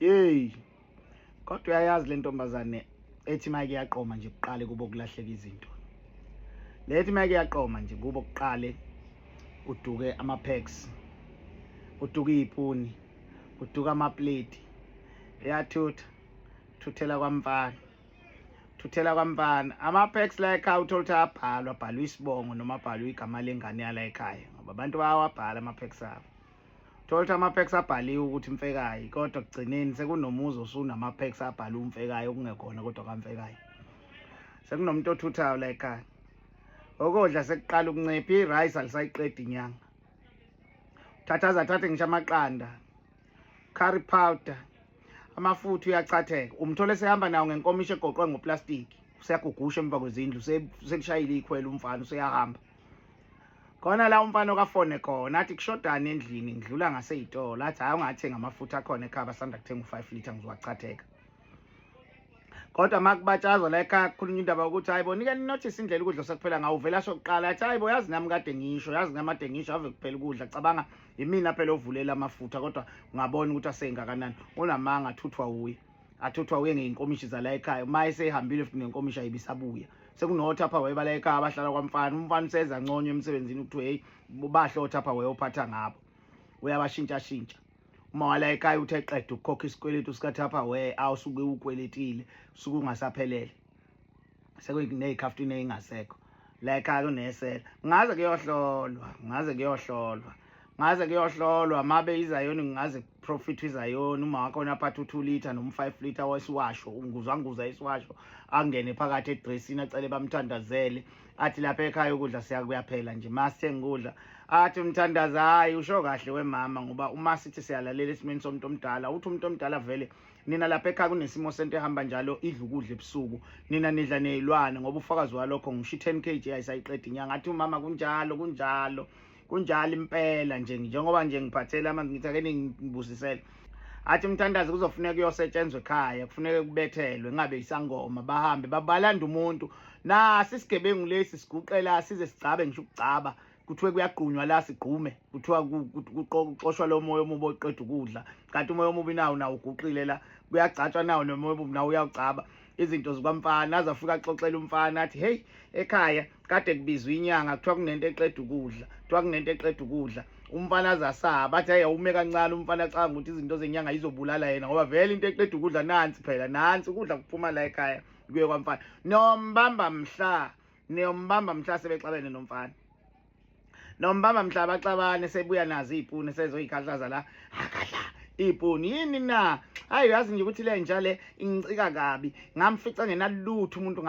Hey. Kodwa uyayazi le ntombazane ethi mike yaqoma nje kuqale kubo kulahleka izinto. Lethi mike yaqoma nje kubo kuqale uduke ama packs. Uduke izipuni, uduka ama plate. Yathutha. Thuthela kwamfana. Thuthela kwamfana. Ama packs la ekhaya uthola ukuthi abhalwa, bhalwa isibongo noma bhalwa igama lengane yala ekhaya. Ngoba abantu bayawabhala ama packs abo. thola ukuthi ama-packs abhaliwe ukuthi mfekayi kodwa kugcineni sekunomuzi osunama-packs abhale umfekayi okungekhona kodwa kamfekayi sekunomuntu othuthayo la ekhaya okodla sekuqala ukuncipha i-rice alisayiqedi inyanga thatha azathathe ngisho amaqanda curry powder amafutha uyachatheka umthole sehamba nawo ngenkomisho egoqwe ngoplastiki useyagugusha emva kwezindlu sekushayile ikhwela umfana useyahamba khona la umfana okafone khona athi kushodani endlini ngidlula ngaseyitolo athi hayi ungathenga amafutha akhona ekhaya basanda kuthenga u-five litre ngizowachatheka kodwa uma kubatshazwa la ekhaya kukhulunywa indaba yokuthi hayi bo nike ninothise indlela ukudla osekuphela ngawo uvela asho kuqala athi hayi bo yazi nami kade ngisho yazi nami ade ngisho ave kuphela ukudla cabanga yimina phela ovulela amafutha kodwa ungabona ukuthi aseyingakanani unamanga athuthwa wuye athi kuthiwa uye ngey'nkomishi zala ekhaya uma esehambile futhi nenkomishi ayibisabuya sekunothi apha wayebala ekhaya abahlala kwamfana umfana useza nconywa emsebenzini kuthiwa heyi bahle othi apha wayophatha ngabo uyabashintshashintsha uma wala ekhaya uthe qeda ukukhokha isikweletu sikathaphawee awusuke uwukweletile suke ungasaphelele sekunezikhaftu nezingasekho la ekhaya kunesela ngaze kuyohlolwa ngaze kuyohlolwa ngaze kuyohlolwa mabe izayoni ngaze profit izayoni uma wakho naphatha u2 liter noma 5 liter wesiwasho unguzwa nguza isiwasho angene phakathi edressini acele bamthandazele athi lapha ekhaya ukudla siyakuyaphela nje masithenga ukudla athi umthandazi hayi usho kahle wemama ngoba uma sithi siyalalela esimeni somuntu omdala uthi umuntu omdala vele nina lapha ekhaya kunesimo sento ehamba njalo idla ukudla ebusuku nina nidla nezilwane ngoba ufakazi walokho ngisho i10 kg ayisayiqedi inyanga athi umama kunjalo kunjalo kunjalo impela nje njengoba nje ngiphathele amanzi ngithi ake ningibusisele athi umthandazi kuzofuneka kuyosetshenzwa ekhaya kufuneka kubethelwe ngabe isangoma bahambe babalanda umuntu nasi isigebengu lesi siguqela size sigcabe ngisho ukugcaba kuthiwe kuyagqunywa la sigqume kuthiwa kuxoshwa lo moya omubi oqeda ukudla kanti umoya omubi nawo nawo uguqile la kuyagcatshwa nawo nomoya omubi nawo uyawugcaba izinto zikamfana aze afike axoxele umfana athi heyi ekhaya kade kubizwa inyanga kuthiwa kunento eqeda ukudla kuthiwa kunento eqeda ukudla umfana aze asaba athi hayi awume kancane umfana acanga ukuthi izinto zenyanga yizobulala yena ngoba vele into eqeda ukudla nansi phela nansi ukudla kuphuma la ekhaya kuye kwamfana nombamba mhla niyombamba mhla sebexabene nomfana nombamba mhla baxabane sebuya nazo iy'puni sezoyikhahlaza la akadla iy'puni yini na hayi uyazi nje ukuthi le nja le ingicika kabi ngamfica ngenalutho umuntu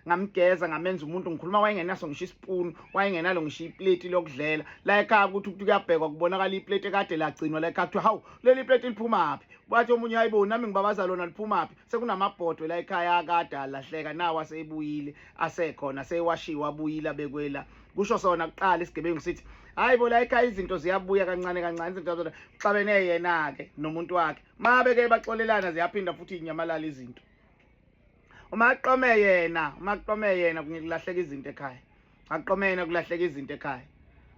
ngamgeza ngamenza umuntu ngikhuluma wayengenaso ngisho isipuni wayengenalo ngisho ipleti lokudlela la ekhaya ukuthi ukuthi kuyabhekwa kubonakala ipleti ekade lagcinwa la ekhaya kuthiwa hawu leli pleti liphumaphi bathi omunye hayibo nami ngibabaza lona liphumaphi sekunamabhodwe la ekhaya akade alahleka nawo aseyibuyile asekhona seyewashiwa abuyile abekwela kusho sona kuqala isigebengu sithi hayi bo la ekhaya izinto ziyabuya kancane kancane izinto zona kuxabene yena-ke nomuntu wakhe ma beke baxolelana ziyaphinda futhi inyamalala izinto uma aqome yena uma aqome yena kungikulahleka izinto ekhaya aqomena kulahleka izinto ekhaya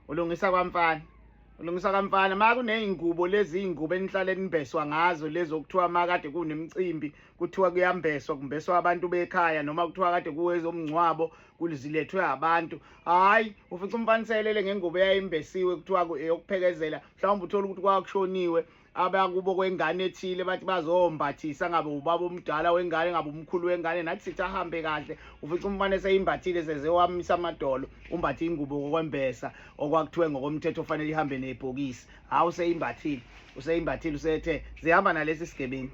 ulungisa kwamfana ulungisa kamfana ma kuney'ngubo lezi iy'ngubo enihlale nibheswa ngazo lezo kuthiwa ma kade kunemicimbi kuthiwa kuyambeswa kumbeswa abantu bekhaya noma kuthiwa kade kuwezomngcwabo kulizilethwe abantu hhayi ufica umfana iselele ngengubo eyayimbesiwe kuthiwa eyokuphekezela mhlawumbe uthole ukuthi kwakushoniwe abakubo kwengane ethile bathi bazombathisa ngabe ubaba omdala wengane ngabe umkhulu wengane nathi sithi ahambe kahle ufica umfana eseyimbathile sezewamisa amadolo umbathe ingubo kokwembesa okwakuthiwe ngokomthetho ofanele ihambe nebhokisi hawu useyimbathile useyimbathile usethe zihamba nalesi sigebengu